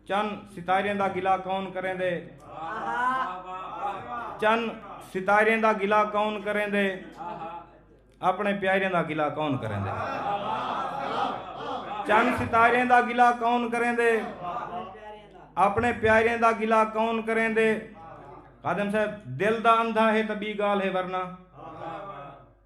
چن ستاریں دا گلا کون کریں دے چن ستاریں دا گلا کون کریں دے اپنے پیاریں دا گلا کون کریں دے چن ستاریں دا گلا کون کریں دے اپنے پیاریں دا گلا کون کریں دے قادم صاحب دل دا اندھا ہے تبی گال ہے ورنہ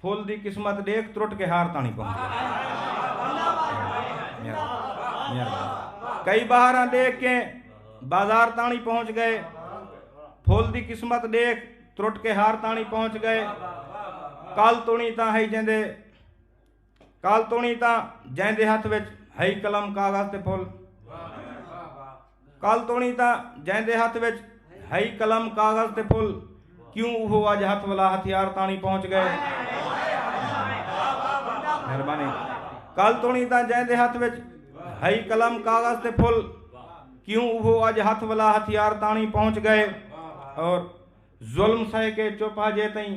پھل دی قسمت ڈیکھ ترٹ کے ہار تاݨی پہنچ گئے۔ کئی بہاراں ڈیکھ کے بازار تاݨی پہنچ گئے۔ پھل دی قسمت ڈیکھ ترٹ کے ہار تاݨی پہنچ گئے۔ کل تونی تاں ہئی جیندے کل تونی تاں جیندے ہتھ وچ ہئی قلم کاغذ تے پھل۔ کل توڑیں تاں جیندے ہتھ وچ ہئی قلم، کاغذ تے پھل، کیوں اوہو اج ہتھ ولا ہتھیار تاݨی پہنچ ڳئے۔ مہربانی۔ کل توڑیں تاں جیندے ہتھ وچ ہئی قلم، کاغذ تے پھل، کیوں اوہو اج ہتھ ولا ہتھیار تاݨی پہنچ ڳئے۔ اور ظلم سہہ کے چپ ہجے تئیں۔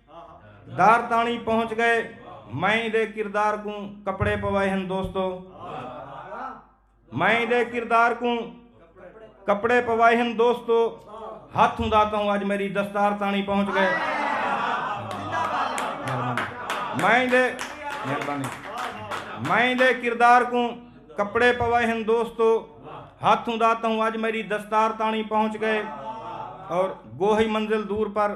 دار تاݨی پہنچ ڳئے مائیں دے کردار کوں کپڑے پوائے ہن دوستو مائیں دے کردار کوں کپڑے پوائے ہن دوستو ہاتھ ہوں داتا ہوں آج میری دستار تاݨی پہنچ گئے مائیں دے مائیں دے کردار کوں کپڑے پوائے ہن دوستو ہاتھ ہوں داتا ہوں آج میری دستار تاݨی پہنچ گئے اور گوہی منزل دور پر